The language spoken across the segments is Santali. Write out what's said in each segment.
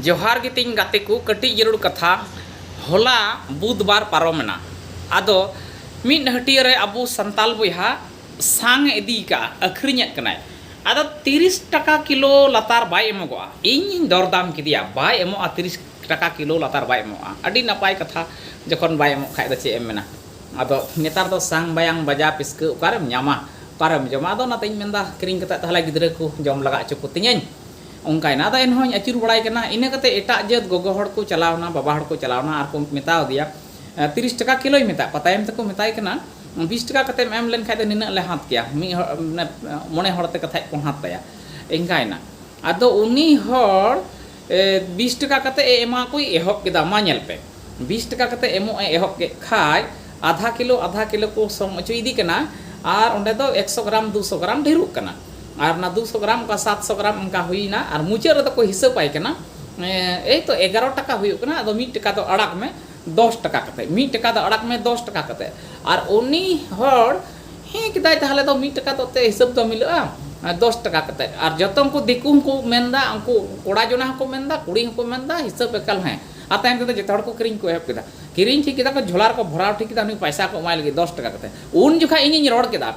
ᱡᱚᱦᱟᱨ ᱜᱮ ᱛᱤᱧ ᱜᱟᱛᱮ ᱠᱚ ᱠᱟᱹᱴᱤᱡ ᱡᱟᱹᱨᱩᱲ ᱠᱟᱛᱷᱟ ᱦᱚᱞᱟ ᱵᱩᱫᱷ ᱵᱟᱨ ᱯᱟᱨᱚᱢ ᱮᱱᱟ ᱟᱫᱚ ᱢᱤᱫ ᱦᱟᱹᱴᱤᱭᱟᱹ ᱨᱮ ᱟᱵᱚ ᱥᱟᱱᱛᱟᱞ ᱵᱚᱭᱦᱟ ᱥᱟᱝ ᱮ ᱤᱫᱤ ᱟᱠᱟᱫᱼᱟ ᱟᱹᱠᱷᱨᱤᱧ ᱮᱫ ᱠᱟᱱᱟᱭ ᱟᱫᱚ ᱛᱤᱨᱤᱥ ᱴᱟᱠᱟ ᱠᱤᱞᱳ ᱞᱟᱛᱟᱨ ᱵᱟᱭ ᱮᱢᱚᱜᱚᱜᱼᱟ ᱤᱧᱤᱧ ᱫᱚᱨ ᱫᱟᱢ ᱠᱮᱫᱮᱭᱟ ᱵᱟᱭ ᱮᱢᱚᱜᱼᱟ ᱛᱤᱨᱤᱥ ᱴᱟᱠᱟ ᱠᱤᱞᱳ ᱞᱟᱛᱟᱨ ᱵᱟᱭ ᱮᱢᱚᱜᱼᱟ ᱟᱹᱰᱤ ᱱᱟᱯᱟᱭ ᱠᱟᱛᱷᱟ ᱡᱚᱠᱷᱚᱱ ᱵᱟᱭ ᱮᱢᱚᱜ ᱠᱷᱟᱱ ᱫᱚ ᱪᱮᱫ ᱮᱢ ᱢᱮᱱᱟ ᱟᱫᱚ ᱱᱮᱛᱟᱨ ᱫᱚ ᱥᱟᱝ ᱵᱟᱭᱟᱝ ᱵᱟᱡᱟ ᱯᱤᱥᱠᱟᱹ ᱚᱠᱟᱨᱮᱢ ᱧᱟᱢᱟ ᱚᱠᱟᱨᱮᱢ ᱡᱚᱢᱟ ᱟᱫᱚ ᱚᱱᱟᱛᱮᱧ ᱢᱮᱱ ᱮᱫᱟ ᱠᱤᱨᱤᱧ ᱠᱟᱛᱮᱫ ᱛᱟᱦᱚᱞᱮ ᱜᱤᱫᱽᱨᱟᱹ ᱠᱚ ᱡᱚᱢ ᱞᱟᱜᱟ ᱦᱚᱪᱚ ᱠᱚᱛᱤᱧᱟᱹᱧ ᱚᱱᱠᱟ ᱮᱱᱟ ᱟᱫᱚ ᱮᱱᱦᱚᱸ ᱤᱧ ᱟᱹᱪᱩᱨ ᱵᱟᱲᱟᱭ ᱠᱟᱱᱟ ᱤᱱᱟᱹ ᱠᱟᱛᱮ ᱮᱴᱟᱜ ᱡᱟᱹᱛ ᱜᱚᱜᱚ ᱦᱚᱲ ᱠᱚ ᱪᱟᱞᱟᱣ ᱮᱱᱟ ᱵᱟᱵᱟ ᱦᱚᱲ ᱠᱚ ᱪᱟᱞᱟᱣ ᱮᱱᱟ ᱟᱨ ᱠᱚ ᱢᱮᱛᱟ ᱟᱫᱮᱭᱟ ᱛᱤᱨᱤᱥ ᱴᱟᱠᱟ ᱠᱤᱞᱳᱭ ᱢᱮᱛᱟᱫ ᱠᱚᱣᱟ ᱛᱟᱭᱚᱢ ᱛᱮᱠᱚ ᱢᱮᱛᱟᱭ ᱠᱟᱱᱟ ᱵᱤᱥ ᱴᱟᱠᱟ ᱠᱟᱛᱮᱢ ᱮᱢ ᱞᱮᱱ ᱠᱷᱟᱱ ᱫᱚ ᱱᱤᱱᱟᱹᱜ ᱞᱮ ᱦᱟᱛ ᱠᱮᱭᱟ ᱢᱤᱫ ᱦᱚᱲ ᱢᱚᱬᱮ ᱦᱚᱲ ᱛᱮ ᱠᱟᱛᱷᱟᱡ ᱠᱚ ᱦᱟᱛ ᱛᱟᱭᱟ ᱮᱱᱠᱟ ᱮᱱᱟ ᱟᱫᱚ ᱩᱱᱤ ᱦᱚᱲ ᱵᱤᱥ ᱴᱟᱠᱟ ᱠᱟᱛᱮ ᱮ ᱮᱢᱟ ᱠᱚᱭ ᱮᱦᱚᱵ ᱠᱮᱫᱟ ᱢᱟ ᱧᱮᱞ ᱯᱮ ᱵᱤᱥ ᱴᱟᱠᱟ ᱠᱟᱛᱮ ᱮᱢᱚᱜ ᱮ ᱮᱦᱚᱵ ᱠᱮᱫ ᱠᱷᱟᱡ ᱟᱫᱷᱟ ᱠᱤᱞᱳ ᱟᱫᱷᱟ ᱠᱤᱞᱳ ᱠᱚ ᱥᱚᱢ ᱚᱪᱚᱭᱮᱫᱮ ᱠᱟᱱᱟ ᱟᱨ ᱚᱸᱰᱮ ᱫᱚ ᱮᱠᱥᱚ ᱜᱨᱟᱢ ᱫᱩᱥᱚ ᱜᱨᱟᱢ ᱰᱷᱮᱨᱚᱜ ᱠᱟᱱᱟ ᱟᱨ ᱚᱱᱟ ᱫᱩᱥᱚ ᱜᱨᱟᱢ ᱚᱱᱠᱟ ᱥᱟᱛᱥᱚ ᱜᱨᱟᱢ ᱚᱱᱠᱟ ᱦᱩᱭᱱᱟ ᱟᱨ ᱢᱩᱪᱟᱹᱫ ᱨᱮᱫᱚ ᱠᱚ ᱦᱤᱥᱟᱹᱵᱟᱭ ᱠᱟᱱᱟ ᱮᱭ ᱛᱚ ᱮᱜᱟᱨᱚ ᱴᱟᱠᱟ ᱦᱩᱭᱩᱜ ᱠᱟᱱᱟ ᱟᱫᱚ ᱢᱤᱫ ᱴᱟᱠᱟ ᱫᱚ ᱟᱲᱟᱜ ᱢᱮ ᱫᱚᱥ ᱴᱟᱠᱟ ᱠᱟᱛᱮ ᱢᱤᱫ ᱴᱟᱠᱟ ᱫᱚ ᱟᱲᱟᱜ ᱢᱮ ᱫᱚᱥ ᱴᱟᱠᱟ ᱠᱟᱛᱮ ᱟᱨ ᱩᱱᱤ ᱦᱚᱲ ᱦᱮᱸ ᱠᱮᱫᱟᱭ ᱛᱟᱦᱚᱞᱮ ᱫᱚ ᱢᱤᱫ ᱴᱟᱠᱟ ᱫᱚ ᱛᱮ ᱦᱤᱥᱟᱹᱵ ᱫᱚ ᱢᱤᱞᱟᱹᱜᱼᱟ ᱫᱚᱥ ᱴᱟᱠᱟ ᱠᱟᱛᱮ ᱟᱨ ᱡᱚᱛᱚ ᱩᱱᱠᱩ ᱫᱤᱠᱩ ᱦᱚᱸᱠᱚ ᱢᱮᱱᱫᱟ ᱩᱱᱠᱩ ᱠᱚᱲᱟ ᱡᱚᱱᱟ ᱦᱚᱸᱠᱚ ᱢᱮᱱᱫᱟ ᱠᱩᱲᱤ ᱦᱚᱸᱠᱚ ᱢᱮᱱᱫᱟ ᱦᱤᱥᱟᱹᱵ ᱮᱠᱟᱞ ᱦᱮᱸ ᱟᱨ ᱛᱟᱭᱚᱢ ᱛᱮᱫᱚ ᱡᱚᱛᱚ ᱦᱚᱲ ᱠᱚ ᱠᱤᱨᱤᱧ ᱠᱚ ᱮᱦᱚᱵ ᱠᱮᱫᱟ ᱠᱤᱨᱤᱧ ᱴᱷᱤᱠ ᱠᱮᱫᱟ ᱠᱚ ᱡᱷᱚᱞᱟ ᱨᱮᱠᱚ ᱵᱷᱚᱨᱟᱣ ᱴᱷᱤᱠ ᱠᱮᱫᱟ ᱩᱱᱤ ᱯᱚᱭᱥᱟ ᱠᱚ ᱮᱢᱟᱭ ᱞᱟᱹᱜᱤᱫ ᱫᱚᱥ ᱴᱟᱠᱟ ᱠᱟᱛᱮ ᱩᱱ ᱡᱚᱠᱷᱟᱡ ᱤᱧᱤᱧ ᱨᱚᱲ ᱠᱮᱫᱟ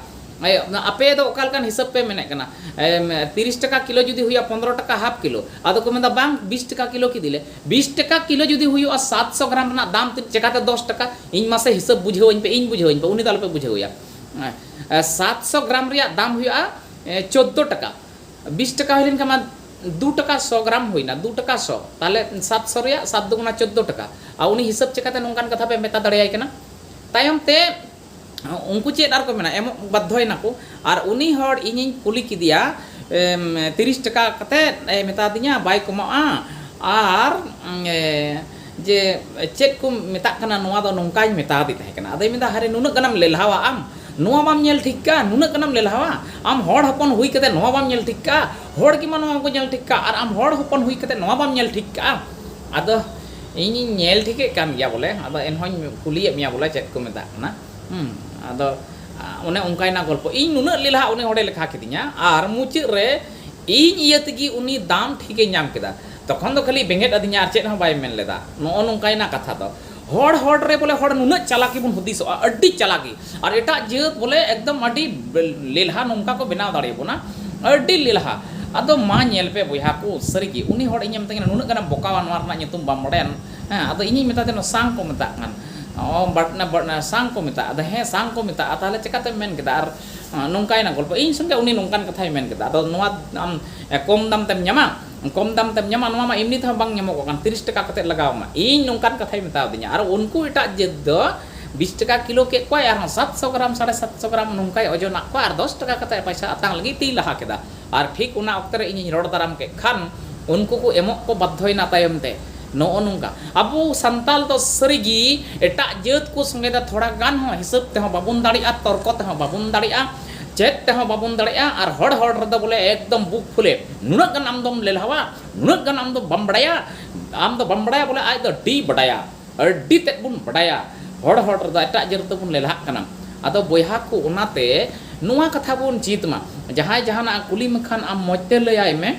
ᱟᱯᱮ ᱫᱚ ᱚᱠᱟ ᱞᱮᱠᱟᱱ ᱦᱤᱥᱟᱹᱵ ᱯᱮ ᱢᱮᱱᱮᱫ ᱠᱟᱱᱟ ᱛᱤᱨᱤᱥ ᱴᱟᱠᱟ ᱠᱤᱞᱳ ᱡᱩᱫᱤ ᱦᱩᱭᱩᱜᱼᱟ ᱯᱚᱱᱨᱚ ᱴᱟᱠᱟ ᱦᱟᱯ ᱠᱤᱞᱳ ᱟᱫᱚ ᱠᱚ ᱢᱮᱱᱫᱟ ᱵᱟᱝ ᱵᱤᱥ ᱴᱟᱠᱟ ᱠᱤᱞᱳ ᱠᱤᱫᱤᱞᱮ ᱵᱤᱥ ᱴᱟᱠᱟ ᱠᱤᱞᱳ ᱡᱩᱫᱤ ᱦᱩᱭᱩᱜᱼᱟ ᱥᱟᱛ ᱥᱚ ᱜᱨᱟᱢ ᱨᱮᱱᱟᱜ ᱫᱟᱢ ᱪᱮᱠᱟᱛᱮ ᱫᱚᱥ ᱴᱟᱠᱟ ᱤᱧ ᱢᱟᱥᱮ ᱦᱤᱥᱟᱹᱵ ᱵᱩᱡᱷᱟᱹᱣᱟᱹᱧ ᱯᱮ ᱤᱧ ᱵᱩᱡᱷᱟᱹᱣᱟᱹᱧ ᱯᱮ ᱩᱱᱤ ᱫᱚ ᱟᱞᱚᱯᱮ ᱵᱩᱡᱷᱟᱹᱣᱮᱭᱟ ᱥᱟᱛ ᱥᱚ ᱜᱨᱟᱢ ᱨᱮᱭᱟᱜ ᱫᱟᱢ ᱦᱩᱭᱩᱜᱼᱟ ᱪᱳᱫᱽᱫᱳ ᱴᱟᱠᱟ ᱵᱤᱥ ᱴᱟᱠᱟ ᱦᱩᱭ ᱞᱮᱱᱠᱷᱟᱱ ᱢᱟ ᱫᱩ ᱴᱟᱠᱟ ᱥᱚ ᱜᱨᱟᱢ ᱦᱩᱭᱱᱟ ᱫᱩ ᱴᱟᱠᱟ ᱥᱚ ᱛᱟᱦᱞᱮ ᱥᱟᱛ ᱥᱚ ᱨᱮᱭᱟᱜ ᱥᱟᱛ ᱫᱩᱜᱩᱱᱟ ᱪᱳᱫᱽᱫᱳ ᱴᱟᱠᱟ ᱟᱨ ᱩᱱᱤ ᱦᱤᱥᱟᱹᱵ ᱪᱮᱠᱟᱛᱮ ᱱᱚᱝᱠᱟᱱ ᱠᱟᱛᱷᱟ ᱯᱮ ᱢᱮᱛᱟ ᱫᱟᱲᱮᱭᱟᱭ ᱠᱟᱱᱟ ᱛᱟᱭᱚᱢ ᱛᱮ ᱩᱱᱠᱩ ᱪᱮᱫ ᱟᱨᱠᱚ ᱢᱮᱱᱟ ᱮᱢᱚᱜ ᱵᱟᱫᱽᱫᱷᱚᱭᱮᱱᱟᱠᱚ ᱟᱨ ᱩᱱᱤ ᱦᱚᱲ ᱤᱧᱤᱧ ᱠᱩᱞᱤ ᱠᱮᱫᱮᱭᱟ ᱛᱤᱨᱤᱥ ᱴᱟᱠᱟ ᱠᱟᱛᱮᱫ ᱮ ᱢᱮᱛᱟᱫᱤᱧᱟ ᱵᱟᱭ ᱠᱚᱢᱟᱜᱼᱟ ᱟᱨ ᱡᱮ ᱪᱮᱫ ᱠᱚ ᱢᱮᱛᱟᱜ ᱠᱟᱱᱟ ᱱᱚᱣᱟ ᱫᱚ ᱱᱚᱝᱠᱟᱧ ᱢᱮᱛᱟᱫᱮ ᱛᱟᱦᱮᱸ ᱠᱟᱱᱟ ᱟᱫᱚᱭ ᱢᱮᱱᱫᱟ ᱦᱟᱭᱨᱮ ᱱᱩᱱᱟᱹᱜ ᱜᱟᱱᱮᱢ ᱞᱮᱞᱦᱟᱣᱟ ᱟᱢ ᱱᱚᱣᱟ ᱵᱟᱢ ᱧᱮᱞ ᱴᱷᱤᱠ ᱠᱟᱜᱼᱟ ᱱᱩᱱᱟᱹᱜ ᱜᱟᱱᱮᱢ ᱞᱮᱞᱦᱟᱣᱟ ᱟᱢ ᱦᱚᱲ ᱦᱚᱯᱚᱱ ᱦᱩᱭ ᱠᱟᱛᱮᱫ ᱱᱚᱣᱟ ᱵᱟᱢ ᱧᱮᱞ ᱴᱷᱤᱠ ᱠᱟᱜᱼᱟ ᱦᱚᱲ ᱜᱮᱢᱟ ᱱᱚᱣᱟ ᱵᱟᱠᱚ ᱧᱮᱞ ᱴᱷᱤᱠ ᱠᱟᱜᱼᱟ ᱟᱨ ᱟᱢ ᱦᱚᱲ ᱦᱚᱯᱚᱱ ᱦᱩᱭ ᱠᱟᱛᱮᱫ ᱱᱚᱣᱟ ᱵᱟᱢ ᱧᱮᱞ ᱴᱷᱤᱠ ᱠᱟᱜᱼᱟ ᱟᱫᱚ ᱤᱧᱤᱧ ᱧᱮᱞ ᱴᱷᱤᱠᱮᱫ ᱠᱟᱱ ᱜᱮᱭᱟ ᱵᱚᱞᱮ ᱟᱫᱚ ᱮᱱᱦᱚᱸᱧ ᱠᱩᱞᱤᱭᱮᱫ ᱢᱮᱭᱟ ᱵᱚᱞᱮ ᱪᱮᱫ ᱠᱚ ᱢᱮᱛᱟᱜ ᱠᱟᱱᱟ ᱦᱮᱸ ᱟᱫᱚ ᱚᱱᱮ ᱚᱱᱠᱟᱭᱮᱱᱟ ᱜᱚᱞᱯᱚ ᱤᱧ ᱱᱩᱱᱟᱹᱜ ᱞᱮᱞᱦᱟ ᱩᱱᱤ ᱦᱚᱲᱮ ᱞᱮᱠᱷᱟ ᱠᱤᱫᱤᱧᱟ ᱟᱨ ᱢᱩᱪᱟᱹᱫ ᱨᱮ ᱤᱧ ᱤᱭᱟᱹ ᱛᱮᱜᱮ ᱩᱱᱤ ᱫᱟᱢ ᱴᱷᱤᱠᱮ ᱧᱟᱢ ᱠᱮᱫᱟ ᱛᱚᱠᱷᱚᱱ ᱫᱚ ᱠᱷᱟᱹᱞᱤ ᱵᱮᱸᱜᱮᱫ ᱟᱹᱫᱤᱧᱟ ᱟᱨ ᱪᱮᱫ ᱦᱚᱸ ᱵᱟᱭ ᱢᱮᱱ ᱞᱮᱫᱟ ᱱᱚᱜᱼᱚ ᱱᱚᱝᱠᱟᱭᱮᱱᱟ ᱠᱟᱛᱷᱟ ᱫᱚ ᱦᱚᱲ ᱦᱚᱲ ᱨᱮ ᱵᱚᱞᱮ ᱦᱚᱲ ᱱᱩᱱᱟᱹᱜ ᱪᱟᱞᱟᱠᱤ ᱵᱚᱱ ᱦᱩᱫᱤᱥᱚᱜᱼᱟ ᱟᱹᱰᱤ ᱪᱟᱞᱟᱠᱤ ᱟᱨ ᱮᱴᱟᱜ ᱡᱟᱹᱛ ᱵᱚᱞᱮ ᱮᱠᱫᱚᱢ ᱟᱹᱰᱤ ᱞᱮᱞᱦᱟ ᱱᱚᱝᱠᱟ ᱠᱚ ᱵᱮᱱᱟᱣ ᱫᱟᱲᱮ ᱟᱵᱚᱱᱟ ᱟᱹᱰᱤ ᱞᱮᱞᱦᱟ ᱟᱫᱚ ᱢᱟ ᱧᱮᱞ ᱯᱮ ᱵᱚᱭᱦᱟ ᱠᱚ ᱥᱟᱹᱨᱤ ᱜᱮ ᱩᱱᱤ ᱦᱚᱲ ᱤᱧᱮ ᱢᱮᱛᱟᱹᱧ ᱠᱟᱱᱟ ᱱᱩᱱᱟᱹᱜ ᱜᱟᱱᱮᱢ ᱵᱚᱠᱟᱣᱟ ᱱᱚᱣᱟ ᱨᱮᱱᱟᱜ ᱧᱩᱛᱩᱢ ᱵᱟᱢ ᱵᱟᱰᱟᱭᱟ ᱦᱮᱸ ᱟᱫᱚ ᱤᱧᱤᱧ ᱢᱮᱛᱟᱭ ᱠᱟᱱᱟ ᱥᱟᱝ ᱠᱚ ᱢᱮᱛᱟᱜ ᱠᱟᱱ ᱚ ᱥᱟᱝ ᱠᱚ ᱢᱮᱛᱟᱜᱼᱟ ᱟᱫᱚ ᱦᱮᱸ ᱥᱟᱝ ᱠᱚ ᱢᱮᱛᱟᱜᱼᱟ ᱛᱟᱦᱚᱞᱮ ᱪᱤᱠᱟᱹᱛᱮᱢ ᱢᱮᱱ ᱠᱮᱫᱟ ᱟᱨ ᱱᱚᱝᱠᱟᱭᱮᱱᱟ ᱜᱚᱞᱯᱚ ᱤᱧ ᱥᱚᱸᱜᱮ ᱩᱱᱤ ᱱᱚᱝᱠᱟᱱ ᱠᱟᱛᱷᱟᱭ ᱢᱮᱱ ᱠᱮᱫᱟ ᱟᱫᱚ ᱱᱚᱣᱟ ᱟᱢ ᱠᱚᱢ ᱫᱟᱢ ᱛᱮᱢ ᱧᱟᱢᱟ ᱠᱚᱢ ᱫᱟᱢ ᱛᱮᱢ ᱧᱟᱢᱟ ᱱᱚᱣᱟ ᱢᱟ ᱮᱢᱱᱤ ᱛᱮᱦᱚᱸ ᱵᱟᱝ ᱧᱟᱢᱚᱜᱚᱜ ᱠᱟᱱ ᱛᱤᱨᱤᱥ ᱴᱟᱠᱟ ᱠᱟᱛᱮ ᱞᱟᱜᱟᱣ ᱟᱢᱟ ᱤᱧ ᱱᱚᱝᱠᱟᱱ ᱠᱟᱛᱷᱟᱭ ᱢᱮᱛᱟᱣ ᱫᱤᱧᱟ ᱟᱨ ᱩᱱᱠᱩ ᱮᱴᱟᱜ ᱡᱟᱹᱛ ᱫᱚ ᱵᱤᱥ ᱴᱟᱠᱟ ᱠᱤᱞᱳ ᱠᱮᱫ ᱠᱚᱣᱟᱭ ᱟᱨᱦᱚᱸ ᱥᱟᱛ ᱥᱚ ᱜᱨᱟᱢ ᱥᱟᱲᱮ ᱥᱟᱛ ᱥᱚ ᱜᱨᱟᱢ ᱱᱚᱝᱠᱟᱭ ᱚᱡᱚᱱᱟᱜ ᱠᱚᱣᱟ ᱟᱨ ᱫᱚᱥ ᱴᱟᱠᱟ ᱠᱟᱛᱮ ᱯᱚᱭᱥᱟ ᱟᱛᱟᱝ ᱞᱟᱹᱜᱤᱫ ᱛᱮᱭ ᱞᱟᱦᱟ ᱠᱮᱫᱟ ᱟᱨ ᱴᱷᱤᱠ ᱚᱱᱟ ᱚᱠᱛᱮ ᱨᱮ ᱤᱧᱤᱧ ᱨᱚᱲ ᱫᱟᱨᱟᱢ ᱠᱮᱫ ᱠᱷᱟᱱ ᱩᱱᱠᱩ ᱠᱚ ᱮᱢᱚᱜ ᱠᱚ ᱵᱟᱫᱽᱫᱷᱚᱭᱮᱱᱟ ᱛᱟᱭᱚᱢ ᱛᱮ ᱱᱚᱜᱼᱚ ᱱᱚᱝᱠᱟ ᱟᱵᱚ ᱥᱟᱱᱛᱟᱲ ᱫᱚ ᱥᱟᱹᱨᱤ ᱜᱮ ᱮᱴᱟᱜ ᱡᱟᱹᱛ ᱠᱚ ᱥᱚᱸᱜᱮ ᱫᱚ ᱛᱷᱚᱲᱟ ᱜᱟᱱ ᱦᱚᱸ ᱦᱤᱥᱟᱹᱵ ᱛᱮᱦᱚᱸ ᱵᱟᱵᱚᱱ ᱫᱟᱲᱮᱭᱟᱜᱼᱟ ᱛᱚᱨᱠᱚ ᱛᱮᱦᱚᱸ ᱵᱟᱵᱚᱱ ᱫᱟᱲᱮᱭᱟᱜᱼᱟ ᱪᱮᱫ ᱛᱮᱦᱚᱸ ᱵᱟᱵᱚᱱ ᱫᱟᱲᱮᱭᱟᱜᱼᱟ ᱟᱨ ᱦᱚᱲ ᱦᱚᱲ ᱨᱮᱫᱚ ᱵᱚᱞᱮ ᱮᱠᱫᱚᱢ ᱵᱩᱠ ᱯᱷᱩᱞᱮ ᱱᱩᱱᱟᱹᱜ ᱜᱟᱱ ᱟᱢ ᱫᱚᱢ ᱞᱮᱞᱦᱟᱣᱟ ᱱᱩᱱᱟᱹᱜ ᱜᱟᱱ ᱟᱢ ᱫᱚ ᱵᱟᱢ ᱵᱟᱰᱟᱭᱟ ᱟᱢ ᱫᱚ ᱵᱟᱢ ᱵᱟᱰᱟᱭᱟ ᱵᱚᱞᱮ ᱟᱡ ᱫᱚ ᱟᱹᱰᱤᱭ ᱵᱟᱰᱟᱭᱟ ᱟᱹᱰᱤ ᱛᱮᱫ ᱵᱚᱱ ᱵᱟᱰᱟᱭᱟ ᱦᱚᱲ ᱦᱚᱲ ᱨᱮᱫᱚ ᱮᱴᱟᱜ ᱡᱟᱹᱛ ᱨᱮᱫᱚ ᱵᱚᱱ ᱞᱮᱞᱦᱟᱜ ᱠᱟᱱᱟ ᱟᱫᱚ ᱵᱚᱭᱦᱟ ᱠᱚ ᱚᱱᱟᱛᱮ ᱱᱚᱣᱟ ᱠᱟᱛᱷᱟ ᱵᱚᱱ ᱪᱮᱫ ᱢᱟ ᱡᱟᱦᱟᱸᱭ ᱡᱟᱦᱟᱱᱟᱜ ᱠᱩᱞᱤ ᱢᱮᱠᱷᱟᱱ ᱟᱢ ᱢᱚᱡᱽ ᱛᱮ ᱞᱟᱹᱭᱟᱭ ᱢᱮ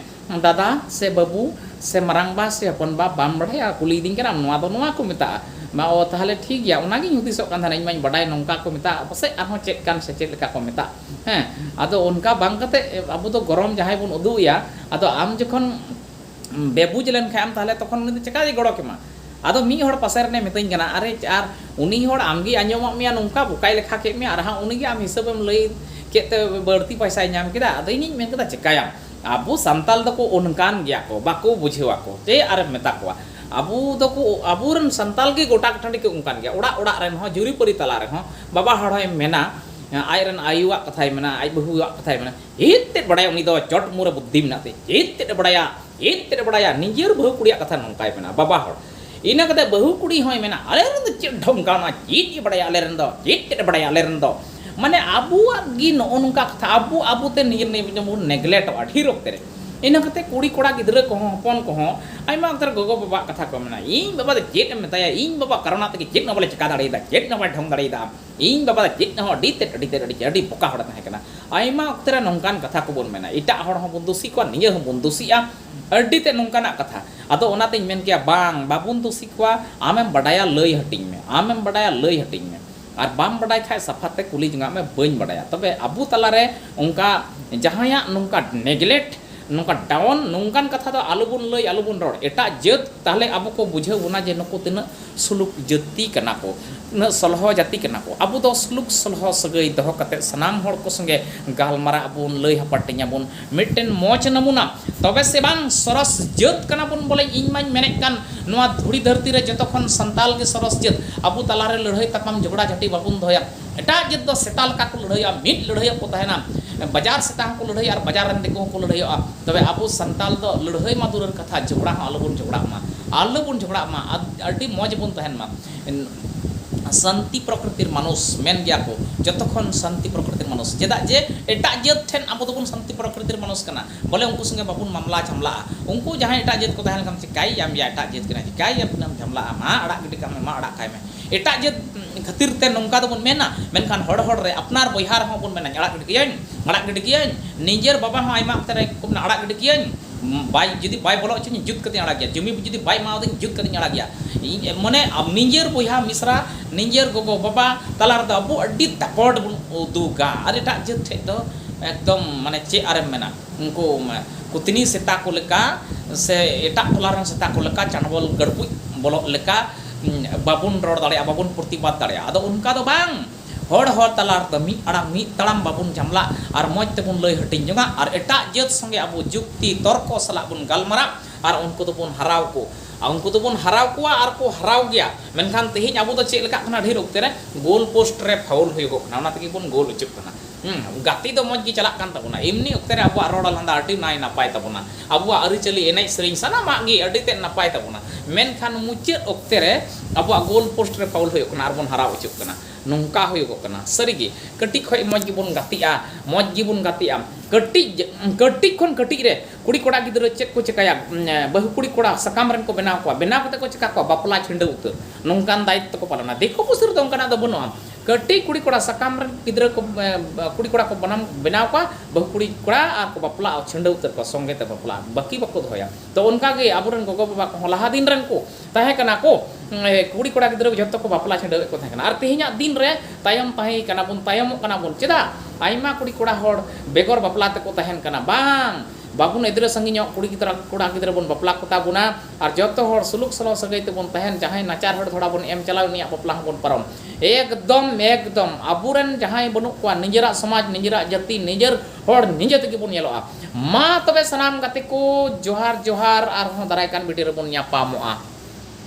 ᱫᱟᱫᱟ ᱥᱮ ᱵᱟᱹᱵᱩ ᱥᱮ ᱢᱟᱨᱟᱝ ᱵᱟ ᱥᱮ ᱦᱚᱯᱚᱱ ᱵᱟ ᱵᱟᱢ ᱵᱟᱰᱟᱭᱟ ᱠᱩᱞᱤᱭᱤᱫᱤᱧ ᱠᱟᱱᱟᱢ ᱱᱚᱣᱟ ᱫᱚ ᱱᱚᱣᱟ ᱠᱚ ᱢᱮᱛᱟᱜᱼᱟ ᱢᱟ ᱚ ᱛᱟᱦᱚᱞᱮ ᱴᱷᱤᱠ ᱜᱮᱭᱟ ᱚᱱᱟ ᱜᱤᱧ ᱦᱩᱫᱤᱥᱚᱜ ᱠᱟᱱ ᱛᱟᱦᱮᱱᱟ ᱤᱧ ᱢᱟᱹᱧ ᱵᱟᱰᱟᱭ ᱱᱚᱝᱠᱟ ᱠᱚ ᱢᱮᱛᱟᱜᱼᱟ ᱯᱟᱥᱮᱡ ᱟᱨᱦᱚᱸ ᱪᱮᱫ ᱠᱟᱱ ᱥᱮ ᱪᱮᱫ ᱞᱮᱠᱟ ᱠᱚ ᱢᱮᱛᱟᱜ ᱦᱮᱸ ᱟᱫᱚ ᱚᱱᱠᱟ ᱵᱟᱝ ᱠᱟᱛᱮ ᱟᱵᱚ ᱫᱚ ᱜᱚᱨᱚᱢ ᱡᱟᱦᱟᱸᱭ ᱵᱚᱱ ᱩᱫᱩᱜ ᱟᱭᱟ ᱟᱫᱚ ᱟᱢ ᱡᱚᱠᱷᱚᱱ ᱵᱮᱵᱩᱡᱽ ᱞᱮᱱ ᱠᱷᱟᱱ ᱮᱢ ᱛᱟᱦᱚᱞᱮ ᱛᱚᱠᱷᱚᱱ ᱩᱱᱤ ᱫᱚ ᱪᱤᱠᱟᱹ ᱛᱮᱭ ᱜᱚᱲᱚ ᱠᱮᱢᱟ ᱟᱫᱚ ᱢᱤᱫ ᱦᱚᱲ ᱯᱟᱥᱮ ᱨᱮᱱᱮ ᱢᱮᱛᱟᱹᱧ ᱠᱟᱱᱟ ᱟᱨᱮ ᱟᱨ ᱩᱱᱤ ᱦᱚᱲ ᱟᱢ ᱜᱮᱭ ᱟᱸᱡᱚᱢᱟᱜ ᱢᱮᱭᱟ ᱱᱚᱝᱠᱟ ᱵᱚᱠᱟᱭ ᱞᱮᱠᱷᱟ ᱠᱮᱫ ᱢᱮᱭᱟ ᱟᱨ ᱦᱟᱸᱜ ᱩᱱᱤ ᱜᱮ ᱟᱢ ᱦᱤᱥᱟᱹᱵᱮᱢ ᱞᱟᱹᱭ ᱠᱮᱫ ᱛᱮ ᱵᱟᱹᱲᱛᱤ ᱯᱚᱭᱥᱟᱭ ᱧᱟᱢ ᱠᱮᱫᱟ ᱟᱫᱚ ᱤᱧᱤᱧ ᱢᱮᱱ ᱠᱮᱫᱟ ᱪᱤᱠᱟᱹᱭᱟᱢ ᱟᱵᱚ ᱥᱟᱱᱛᱟᱞ ᱫᱚ ᱠᱚ ᱚᱱᱠᱟᱱ ᱜᱮᱭᱟ ᱠᱚ ᱵᱟᱠᱚ ᱵᱩᱡᱷᱟᱹᱣ ᱟᱠᱚ ᱪᱮᱫ ᱟᱨ ᱮᱢ ᱢᱮᱛᱟ ᱠᱚᱣᱟ ᱟᱵᱚ ᱫᱚ ᱠᱚ ᱟᱵᱚ ᱨᱮᱱ ᱥᱟᱱᱛᱟᱞ ᱜᱮ ᱜᱚᱴᱟ ᱴᱟᱺᱰᱤ ᱠᱚ ᱚᱱᱠᱟᱱ ᱜᱮᱭᱟ ᱚᱲᱟᱜ ᱚᱲᱟᱜ ᱨᱮᱱ ᱦᱚᱸ ᱡᱩᱨᱤ ᱯᱟᱹᱨᱤ ᱛᱟᱞᱟ ᱨᱮᱦᱚᱸ ᱵᱟᱵᱟ ᱦᱚᱲ ᱦᱚᱸᱭ ᱢᱮᱱᱟ ᱟᱡ ᱨᱮᱱ ᱟᱭᱳᱣᱟᱜ ᱠᱟᱛᱷᱟᱭ ᱢᱮᱱᱟ ᱟᱡ ᱵᱟᱹᱦᱩᱣᱟᱜ ᱠᱟᱛᱷᱟᱭ ᱢᱮᱱᱟ ᱪᱮᱫ ᱛᱮᱫ ᱵᱟᱰᱟᱭᱟ ᱩᱱᱤ ᱫᱚ ᱪᱚᱴ ᱢᱩᱸ ᱨᱮ ᱵᱩᱫᱽᱫᱷᱤ ᱢᱮᱱᱟᱜ ᱛᱟᱭᱟ ᱪᱮᱫ ᱛᱮᱫ ᱮ ᱵᱟᱰᱟᱭᱟ ᱪᱮᱫ ᱛᱮᱫ ᱮ ᱵᱟᱰᱟᱭᱟ ᱱᱤᱡᱮᱨ ᱵᱟᱹᱦᱩ ᱠᱩᱲᱤᱭᱟᱜ ᱠᱟᱛᱷᱟ ᱱᱚᱝᱠᱟᱭ ᱢᱮᱱᱟ ᱵᱟᱵᱟ ᱦᱚᱲ ᱤᱱᱟᱹ ᱠᱟᱛᱮ ᱵᱟᱹᱦᱩ ᱠᱩᱲᱤ ᱦᱚᱸᱭ ᱢᱮᱱᱟ ᱟᱞᱮ ᱨᱮᱱ ᱫᱚ ᱪᱮᱫ ᱰᱷᱚᱝᱠᱟ ᱚᱱᱟ ᱪᱮᱫ ᱮ ᱵᱟᱲᱟᱭᱟ ᱟᱞᱮ ᱨᱮᱱ ᱫᱚ ᱪᱮᱫ ᱪᱮᱫ ᱮ ᱵᱟᱲᱟᱭᱟ ᱟᱞᱮ ᱨᱮᱱ ᱫᱚ ᱢᱟᱱᱮ ᱟᱵᱚᱣᱟᱜ ᱜᱮ ᱱᱚᱜᱼᱚ ᱱᱚᱝᱠᱟ ᱠᱟᱛᱷᱟ ᱟᱵᱚ ᱟᱵᱚ ᱛᱮ ᱱᱤᱡᱮᱨ ᱱᱤᱡᱮ ᱵᱚᱱ ᱱᱮᱜᱽᱞᱮᱠᱴᱚᱜᱼᱟ ᱰᱷᱮᱨ ᱚᱠᱛᱮ ᱨᱮ ᱤᱱᱟᱹ ᱠᱟᱛᱮ ᱠᱩᱲᱤ ᱠᱚᱲᱟ ᱜᱤᱫᱽᱨᱟᱹ ᱠᱚᱦᱚᱸ ᱦᱚᱯᱚᱱ ᱠᱚᱦᱚᱸ ᱟᱭᱢᱟ ᱚᱠᱛᱮ ᱨᱮ ᱜᱚᱜᱚ ᱵᱟᱵᱟᱣᱟᱜ ᱠᱟᱛᱷᱟ ᱠᱚ ᱢᱮᱱᱟ ᱤᱧ ᱵᱟᱵᱟ ᱫᱚ ᱪᱮᱫ ᱮᱢ ᱢᱮᱛᱟᱭᱟ ᱤᱧ ᱵᱟᱵᱟᱣᱟᱜ ᱠᱟᱨᱚᱱᱟᱜ ᱛᱮᱜᱮ ᱪᱮᱫ ᱦᱚᱸ ᱵᱟᱞᱮ ᱪᱤᱠᱟᱹ ᱫᱟᱲᱮᱭᱟᱫᱟ ᱪᱮᱫ ᱦᱚᱸ ᱵᱟᱭ ᱰᱷᱚᱝ ᱫᱟᱲᱮᱭᱟᱫᱟ ᱤᱧ ᱵᱟᱵᱟ ᱫᱚ ᱪᱮᱫ ᱦᱚᱸ ᱟᱹᱰᱤ ᱛᱮᱫ ᱟᱹᱰᱤ ᱛᱮᱫ ᱟᱹᱰᱤ ᱛᱮᱫ ᱟᱹᱰᱤ ᱵᱚᱠᱟ ᱦᱚᱲᱮ ᱛᱟᱦᱮᱸ ᱠᱟᱱᱟ ᱟᱭᱢᱟ ᱚᱠᱛᱮ ᱨᱮ ᱱᱚᱝᱠᱟᱱ ᱠᱟᱛᱷᱟ ᱠᱚᱵᱚᱱ ᱢᱮᱱᱟ ᱮᱴᱟᱜ ᱦᱚᱲ ᱦᱚᱸᱵᱚᱱ ᱫᱩᱥᱤ ᱠᱚᱣᱟ ᱱᱤᱡᱮ ᱦᱚᱸᱵᱚᱱ ᱫᱩᱥᱤᱜᱼᱟ ᱟᱹᱰᱰᱤ ᱛᱮᱫ ᱱᱚᱝᱠᱟᱱᱟᱜ ᱠᱟᱛᱷᱟ᱾ ᱟᱫᱚ ᱚᱱᱟ ᱛᱮᱧ ᱢᱮᱱ ᱠᱮᱭᱟ ᱵᱟᱝ, ᱵᱟᱵᱚᱱ ᱫᱩᱥᱤ ᱠᱚᱣᱟ, ᱟᱢᱮᱢ ᱵᱟᱰᱟᱭᱟ ᱞᱟᱹᱭ ᱦᱟᱹᱴᱤᱧ ᱢᱮ, ᱟᱢᱮᱢ ᱵᱟᱰᱟᱭᱟ ᱞᱟᱹᱭ ᱦᱟᱹᱴᱤᱧ ᱢᱮ᱾ ᱟᱨ ᱵᱟᱢ ᱵᱟᱰᱟᱭ ᱠᱷᱟᱡ ᱥᱟᱯᱷᱟ ᱛᱮ ᱠᱩᱞᱤ ᱡᱚᱝᱟᱜ ᱢᱮ ᱵᱟᱹᱧ ᱵᱟᱰᱟᱭᱟ᱾ ᱛᱚᱵᱮ ᱟᱵᱚ ᱛᱟᱞᱟ ᱨᱮ ᱚᱱᱠᱟ ᱡᱟᱦᱟᱸᱭᱟᱜ ᱱᱚᱝᱠᱟ ᱱᱮᱜᱽᱞᱮᱠᱴ, ᱱᱚᱝᱠᱟ ᱰᱟᱣᱚᱱ ᱱᱚᱝᱠᱟᱱ ᱠᱟᱛᱷᱟ ᱫᱚ ᱟᱞᱚ ᱵᱚᱱ ᱞᱟᱹᱭ, ᱟᱞᱚ ᱵᱚᱱ ᱨᱚᱲ᱾ ᱮᱴᱟᱜ ᱡᱟᱹᱛ ᱛᱟᱦᱞᱮ ᱟᱵᱚ ᱠᱚ ᱵᱩᱡᱷᱟᱹᱣ ᱵᱚᱱᱟ ᱡᱮ ᱱᱩᱠᱩ ᱛᱤᱱᱟᱹᱜ ᱥᱩᱞᱩᱠ ᱡᱟᱹᱛᱤ ᱠᱟᱱᱟ ᱠᱚ᱾ ᱩᱱᱟᱹᱜ ᱥᱚᱞᱦᱚ ᱡᱟᱹᱛᱤ ᱠᱟᱱᱟ ᱠᱚ᱾ ᱟᱵᱚ ᱫᱚ ᱥᱩᱞᱩᱠ ᱥᱚᱞᱦᱚ ᱥᱟᱹᱜᱟᱹᱭ ᱫᱚᱦᱚ ᱠᱟᱛᱮ ᱥᱟᱱᱟᱢ ᱦᱚᱲ ᱠᱚ ᱥᱚᱸᱜᱮ ᱜᱟᱞᱢᱟᱨᱟᱜ ᱟᱵᱚᱱ, ᱞᱟᱹᱭ ᱦᱟᱯᱟᱴᱤᱧ ᱟᱵᱚᱱ ᱢᱤᱫᱴᱮᱱ ᱢᱚᱡᱽ ᱱᱟᱢᱩᱱᱟ᱾ ᱛᱚᱵᱮ ᱥᱮ ᱵᱟᱝ ᱥᱚᱨᱚᱥ ᱡᱟᱹᱛ ᱠᱟᱱᱟ ᱵᱚᱱ ᱵᱚᱞᱮ ᱤᱧ ᱢᱟᱹᱧ ᱢᱮᱱᱮᱫ ᱠᱟᱱ ᱱᱚᱣᱟ ᱫᱷᱩᱲᱤ ᱫᱷᱟᱹᱨᱛᱤ ᱨᱮ ᱡᱚᱛᱚ ᱠᱷᱚᱱ ᱥᱟᱱᱛᱟᱞ ᱜᱮ ᱥᱚᱨᱚᱥ ᱡᱟᱹᱛ᱾ ᱟᱵᱚ ᱛᱟᱞᱟ ᱨᱮ ᱞᱟᱹᱲᱦᱟᱹᱭ ᱛᱟᱯᱟᱢ ᱡᱷᱚᱜᱽᱲᱟ ᱡᱷᱟᱹᱴᱤ ᱵᱟᱵᱚᱱ ᱫᱚᱦᱚᱭᱟ᱾ ᱮᱴᱟᱜ ᱡᱟᱹᱛ ᱫᱚ ᱥᱮᱛᱟ ᱞᱮᱠᱟ ᱠᱚ ᱞᱟᱹᱲᱦᱟᱹᱭᱚᱜᱼᱟ, ᱢᱤᱫ ᱞᱟᱹᱲᱦᱟᱹᱭᱚᱜ ᱠᱚ ᱛᱟᱦᱮᱸᱱᱟ᱾ ᱵᱟᱡᱟᱨ ᱥᱮᱛᱟ ᱦᱚᱸ ᱠᱚ ᱞᱟᱹᱲᱦᱟᱹᱭᱚᱜᱼᱟ ᱟᱨ ᱵᱟᱡᱟᱨ ᱨᱮᱱ ᱫᱤᱠᱩ ᱦᱚᱸ ᱠᱚ ᱞᱟᱹᱲᱦᱟᱹᱭᱚᱜᱼᱟ᱾ ᱛᱚᱵᱮ ᱟᱵᱚ ᱥᱟᱱᱛᱟᱞ ᱫᱚ ᱞᱟᱹᱲᱦᱟᱹᱭ ᱢᱟ ᱫᱩᱨᱮᱨ ᱠᱟᱛᱷᱟ ᱡᱷᱚᱜᱽᱲᱟ ᱦᱚᱸ ᱟᱞᱚ ᱵᱚᱱ ᱡᱷᱚᱜᱽᱲᱟᱜ ᱢᱟ᱾ ᱟᱞᱚ ᱵᱚᱱ ᱡᱷᱚᱜᱽᱲᱟᱜ ᱢᱟ ᱟᱨ ᱟᱹᱰᱤ ᱢᱚᱡᱽ ᱵᱚᱱ ᱛᱟᱦᱮᱸᱱ ᱢᱟ᱾ ᱥᱟᱱᱛᱤ ᱯᱨᱚᱠᱨᱤᱛᱤᱨ ᱢᱟᱱᱩᱥ ᱢᱮᱱ ᱜᱮᱭᱟ ᱠᱚ ᱡᱚᱛᱚ ᱠᱷᱚᱱ ᱥᱟᱱᱛᱤ ᱯᱨᱚᱠᱨᱤᱛᱤᱨ ᱢᱟᱱᱩᱥ᱾ ᱪᱮᱫᱟᱜ ᱡᱮ ᱮᱴᱟᱜ ᱡᱟᱹᱛ ᱴᱷᱮᱱ ᱟᱵᱚ ᱫᱚᱵᱚᱱ ᱥᱟᱱᱛᱤ ᱯᱨᱚᱠᱨᱤᱛᱤᱨ ᱢᱟᱱᱩᱥ ᱠᱟᱱᱟ᱾ ᱵᱚᱞᱮ ᱩᱱᱠᱩ ᱥᱚᱸᱜᱮ ᱵᱟᱵᱚᱱ ᱢᱟᱢᱞᱟ ᱡᱷᱟᱢᱞᱟᱜᱼᱟ᱾ ᱩᱱᱠᱩ ᱡᱟᱦᱟᱸᱭ ᱮᱴᱟᱜ ᱡᱟᱹᱛ ᱠᱚ ᱛᱟᱦᱮᱸ ᱞᱮᱱᱠᱷᱟᱱ ᱪᱤᱠᱟᱹᱭᱤᱡ ᱟᱢ ᱭᱟ ᱮᱴᱟᱜ ᱡᱟᱹᱛ ᱠᱟᱱᱟᱭ ᱪᱤᱠᱟᱹᱭᱤᱡ ᱟᱢ ᱛᱤᱱᱟᱹᱜ ᱮᱢ ᱡᱷᱟᱢᱞᱟᱜᱼᱟ ᱢᱟ ᱟᱲᱟᱜ ᱜᱤᱰᱤ ᱠᱟᱜ ᱢᱮ ᱢᱟ ᱟᱲᱟᱜ ᱠᱟᱭ ᱢᱮ ᱮᱴᱟᱜ ᱡᱟᱹᱛ ᱠᱷᱟᱹᱛᱤᱨ ᱛᱮ ᱱᱚᱝᱠᱟ ᱫᱚᱵᱚᱱ ᱢᱮᱱᱟ ᱢᱮᱱᱠᱷᱟᱱ ᱦᱚᱲ ᱦᱚᱲ ᱨᱮ ᱟᱯᱱᱟᱨ ᱵᱚᱭᱦᱟ ᱨᱮᱦᱚᱸ ᱵᱚᱱ ᱢᱮᱱᱟᱧ ᱟᱲᱟᱜ ᱜᱤᱰᱤ ᱠᱟᱹᱭᱟᱹᱧ ᱟᱲᱟᱜ ᱜᱤᱰᱤ ᱠᱟᱹᱭᱟᱹᱧ ᱱᱤᱡᱮᱨ ᱵᱟᱵᱟ ᱦᱚᱸ ᱟᱭᱢᱟ ᱚᱠᱛᱮ ᱨᱮ ᱠᱚ ᱢᱮᱱᱟ ᱟᱲᱟᱜ ᱜᱤᱰᱤ ᱠᱟᱹᱭᱟᱹᱧ ᱵᱟᱭ ᱡᱩᱫᱤ ᱵᱟᱭ ᱵᱚᱞᱚ ᱚᱪᱚᱣᱟᱹᱧᱟ ᱡᱩᱛ ᱠᱟᱛᱮᱧ ᱟᱲᱟᱜᱮᱭᱟ ᱡᱩᱢᱤ ᱡᱩᱫᱤ ᱵᱟᱭ ᱮᱢᱟ ᱟᱹᱫᱤᱧ ᱡᱩᱛ ᱠᱟᱛᱮᱧ ᱟᱲᱟᱜᱮᱭᱟ ᱤᱧ ᱢᱟᱱᱮ ᱱᱤᱡᱮᱨ ᱵᱚᱭᱦᱟ ᱢᱤᱥᱨᱟ ᱱᱤᱡᱮᱨ ᱜᱚᱜᱚ ᱵᱟᱵᱟ ᱛᱟᱞᱟ ᱨᱮᱫᱚ ᱟᱵᱚ ᱟᱹᱰᱤ ᱫᱟᱯᱚᱴ ᱵᱚᱱ ᱩᱫᱩᱜᱟ ᱟᱨ ᱮᱴᱟᱜ ᱡᱟᱹᱛ ᱴᱷᱮᱱ ᱫᱚ ᱮᱠᱫᱚᱢ ᱢᱟᱱᱮ ᱪᱮᱫ ᱟᱨᱮᱢ ᱢᱮᱱᱟ ᱩᱱᱠᱩ ᱠᱩᱛᱱᱤ ᱥᱮᱛᱟ ᱠᱚ ᱞᱮᱠᱟ ᱥᱮ ᱮᱴᱟᱜ ᱴᱚᱞᱟ ᱨᱮᱱ ᱥᱮᱛᱟ ᱠᱚ ᱞᱮᱠᱟ ᱪᱟᱰᱵᱚᱞ ᱜᱟᱹᱲᱯᱩᱡ ᱵᱚᱞᱚᱜ ᱞᱮᱠᱟ ᱵᱟᱵᱚᱱ ᱨᱚᱲ ᱫᱟᱲᱮᱭᱟᱜᱼᱟ ᱵᱟᱵᱚᱱ ᱯᱨᱚᱛᱤᱵᱟᱫᱽ ᱫᱟᱲᱮᱭᱟᱜᱼᱟ ᱟᱫᱚ ᱚᱱᱠᱟ ᱫᱚ ᱵᱟᱝ ᱦᱚᱲ ᱦᱚᱲ ᱛᱟᱞᱟ ᱨᱮᱫᱚ ᱢᱤᱫ ᱟᱲᱟᱝ ᱢᱤᱫ ᱛᱟᱲᱟᱢ ᱵᱟᱵᱚᱱ ᱡᱷᱟᱢᱞᱟᱜ ᱟᱨ ᱢᱚᱡᱽ ᱛᱮᱵᱚᱱ ᱞᱟᱹᱭ ᱦᱟᱹᱴᱤᱧ ᱡᱚᱝᱟ ᱟᱨ ᱮᱴᱟᱜ ᱡᱟᱹᱛ ᱥᱚᱸᱜᱮ ᱟᱵᱚ ᱡᱩᱠᱛᱤ ᱛᱚᱨᱠᱚ ᱥᱟᱞᱟᱜ ᱵᱚᱱ ᱜᱟᱞᱢᱟᱨᱟᱜ ᱟᱨ ᱩᱱᱠᱩ ᱫᱚᱵᱚᱱ ᱦᱟᱨᱟᱣ ᱠᱚ ᱟᱨ ᱩᱱᱠᱩ ᱫᱚᱵᱚᱱ ᱦᱟᱨᱟᱣ ᱠᱚᱣᱟ ᱟᱨ ᱠᱚ ᱦᱟᱨᱟᱣ ᱜᱮᱭᱟ ᱢᱮᱱᱠᱷᱟᱱ ᱛᱮᱦᱮᱧ ᱟᱵᱚ ᱫᱚ ᱪᱮᱫ ᱞᱮᱠᱟᱜ ᱠᱟᱱᱟ ᱰᱷᱮᱨ ᱚᱠᱛᱮ ᱨᱮ ᱜᱳᱞ ᱯᱳᱥᱴ ᱨᱮ ᱯᱷᱟᱣᱩᱞ ᱦᱩᱭᱩᱜᱚᱜ ᱠᱟᱱᱟ ᱚᱱᱟ ᱛᱮᱜᱮ ᱵᱚᱱ ᱜᱳᱞ ᱦᱚᱪᱚᱜ ᱠᱟᱱᱟ ᱜᱟᱛᱮ ᱫᱚ ᱢᱚᱡᱽ ᱜᱮ ᱪᱟᱞᱟᱜ ᱠᱟᱱ ᱛᱟᱵᱚᱱᱟ ᱮᱢᱱᱤ ᱚᱠᱛᱮ ᱨᱮ ᱟᱵᱚᱣᱟᱜ ᱨᱚᱲ ᱞᱟᱸᱫᱟ ᱟᱹᱰᱤ ᱱᱟᱭ ᱱᱟᱯᱟᱭ ᱛᱟᱵᱚᱱᱟ ᱟᱵᱚᱣᱟᱜ ᱟᱹᱨᱤ ᱪᱟᱹᱞᱤ ᱮᱱᱮᱡ ᱥᱮᱨᱮᱧ ᱥᱟᱱᱟᱢᱟᱜ ᱜᱮ ᱟᱹᱰᱤ ᱛᱮᱫ ᱱᱟᱯᱟᱭ ᱛᱟᱵᱚᱱᱟ ᱢᱮᱱᱠᱷᱟᱱ ᱢᱩᱪᱟᱹᱫ ᱚᱠᱛᱮ ᱨᱮ ᱟᱵᱚᱣᱟᱜ ᱜᱳᱞ ᱯᱳᱥᱴ ᱨᱮ ᱯᱷᱟᱣᱩᱞ ᱦᱩᱭᱩᱜ ᱠᱟᱱᱟ ᱟᱨ ᱵᱚᱱ ᱦᱟᱨᱟᱣ ᱦᱚᱪᱚᱜ ᱠᱟᱱᱟ ᱱᱚᱝᱠᱟ ᱦᱩᱭᱩᱜᱚᱜ ᱠᱟᱱᱟ ᱥᱟᱹᱨᱤ ᱜᱮ ᱠᱟᱹᱴᱤᱡ ᱠᱷᱚᱱ ᱢᱚᱡᱽ ᱜᱮᱵᱚᱱ ᱜᱟᱛᱮᱜᱼᱟ ᱢᱚᱡᱽ ᱜᱮᱵᱚᱱ ᱜᱟᱛᱮᱜᱼᱟ ᱠᱟᱹᱴᱤᱡ ᱠᱟᱹᱴᱤᱡ ᱠᱷᱚᱱ ᱠᱟᱹᱴᱤᱡ ᱨᱮ ᱠᱩᱲᱤ ᱠᱚᱲᱟ ᱜᱤᱫᱽᱨᱟᱹ ᱪᱮᱫ ᱠᱚ ᱪᱤᱠᱟᱹᱭᱟ ᱵᱟᱹᱦᱩ ᱠᱩᱲᱤ ᱠᱚᱲᱟ ᱥᱟᱠᱟᱢ ᱨᱮᱱ ᱠᱚ ᱵᱮᱱᱟᱣ ᱠᱚᱣᱟ ᱵᱮᱱᱟᱣ ᱠᱟᱛᱮᱫ ᱠᱚ ᱪᱤᱠᱟᱹ ᱠᱚᱣᱟ ᱵᱟᱯᱞᱟ ᱪᱷᱤᱰᱟᱹᱣ ᱩᱛᱟᱹᱨ ᱱᱚᱝᱠᱟᱱ ᱫᱟᱭᱤᱛᱛᱚ ᱠᱚ ᱯᱟᱞᱚᱱᱟ ᱫᱤᱠᱩ ᱯᱩᱥᱤ ᱨᱮᱫᱚ ᱚᱱᱠᱟᱱᱟᱜ ᱫᱚ ᱵᱟᱹᱱᱩᱜᱼᱟ ᱠᱟᱹᱴᱤᱡ ᱠᱩᱲᱤ ᱠᱚᱲᱟ ᱥᱟᱠᱟᱢ ᱨᱮᱱ ᱜᱤᱫᱽᱨᱟᱹ ᱠᱚ ᱠᱩᱲᱤ ᱠᱚᱲᱟ ᱠᱚ ᱵᱟᱱᱟᱢ ᱵᱮᱱᱟᱣ ᱠᱚᱣᱟ ᱵᱟᱹᱦᱩ ᱠᱩᱲᱤ ᱠᱚᱲᱟ ᱟᱨ ᱠᱚ ᱵᱟᱯᱞᱟᱜᱼᱟ ᱪᱷᱟᱹᱰᱟᱹᱣ ᱩᱛᱟᱹᱨ ᱠᱚᱣᱟ ᱥᱚᱸᱜᱮ ᱛᱮ ᱵᱟᱯᱞᱟ ᱵᱟᱹᱠᱤ ᱵᱟᱠᱚ ᱫᱚᱦᱚᱭᱟ ᱛᱚ ᱚᱱᱠᱟ ᱜᱮ ᱟᱵᱚ ᱨᱮᱱ ᱜᱚᱜᱚ ᱵᱟᱵᱟ ᱠᱚᱦᱚᱸ ᱞᱟᱦᱟ ᱫᱤᱱ ᱨᱮᱱ ᱠᱚ ᱛᱟᱦᱮᱸ ᱠᱟᱱᱟ ᱠᱚ ᱠᱩᱲᱤ ᱠᱚᱲᱟ ᱜᱤᱫᱽᱨᱟᱹ ᱡᱚᱛᱚ ᱠᱚ ᱵᱟᱯᱞᱟ ᱪᱷᱟᱹᱰᱟᱹᱣ ᱮᱫ ᱠᱚ ᱛᱟᱦᱮᱸ ᱠᱟᱱᱟ ᱟᱨ ᱛᱮᱦᱮᱧᱟᱜ ᱫᱤᱱ ᱨᱮ ᱛᱟᱭᱚᱢ ᱛᱟᱦᱮᱸ ᱠᱟᱱᱟ ᱵᱚᱱ ᱛᱟᱭᱚᱢᱚᱜ ᱠᱟᱱᱟ ᱵᱚᱱ ᱪᱮᱫᱟᱜ ᱟᱭᱢᱟ ᱠᱩᱲᱤ ᱠᱚᱲᱟ ᱦᱚᱲ ᱵᱮᱜᱚᱨ ᱵᱟᱯᱞᱟ ᱛᱮᱠᱚ ᱛᱟᱦᱮᱱ ᱠᱟᱱᱟ ᱵᱟᱝ ᱵᱟᱵᱚᱱ ᱮᱫᱽᱨᱮ ᱥᱟᱺᱜᱤᱧᱚᱜ ᱠᱩᱲᱤ ᱜᱤᱫᱽᱨᱟᱹ ᱠᱚᱲᱟ ᱜᱤᱫᱽᱨᱟᱹ ᱵᱚᱱ ᱵᱟᱯᱞᱟ ᱠᱚᱛᱟ ᱵᱚᱱᱟ ᱟᱨ ᱡᱚᱛᱚ ᱦᱚᱲ ᱥᱩᱞᱩᱠ ᱥᱚᱞᱚ ᱥᱟᱹᱜᱟᱹᱭ ᱛᱮᱵᱚᱱ ᱛᱟᱦᱮᱱ ᱡᱟᱦᱟᱸᱭ ᱱᱟᱪᱟᱨ ᱦᱚᱲ ᱫᱷᱚᱲᱟ ᱵᱚᱱ ᱮᱢ ᱪᱟᱞᱟᱣ ᱩᱱᱤᱭᱟᱜ ᱵᱟᱯᱞᱟ ᱦᱚᱸ ᱵᱚᱱ ᱯᱟᱨᱚᱢ ᱮᱠᱫᱚᱢ ᱮᱠᱫᱚᱢ ᱟᱵᱚ ᱨᱮᱱ ᱡᱟᱦᱟᱸᱭ ᱵᱟᱹᱱᱩᱜ ᱠᱚᱣᱟ ᱱᱤᱡᱮᱨᱟᱜ ᱥᱚᱢᱟᱡᱽ ᱱᱤᱡᱮᱨᱟᱜ ᱡᱟᱹᱛᱤ ᱱᱤᱡᱮᱨ ᱦᱚᱲ ᱱᱤᱡᱮ ᱛᱮᱜᱮ ᱵᱚᱱ ᱧᱮᱞᱚᱜᱼᱟ ᱢᱟ ᱛᱚᱵᱮ ᱥᱟᱱᱟᱢ ᱜᱟᱛᱮ ᱠᱚ ᱡᱚᱦᱟᱨ ᱡᱚᱦᱟᱨ ᱟᱨᱦᱚᱸ ᱫᱟᱨᱟᱭ ᱠᱟᱱ ᱵᱷᱤᱰᱤᱭᱳ ᱨᱮᱵᱚᱱ ᱧᱟᱯᱟᱢᱚᱜᱼᱟ᱾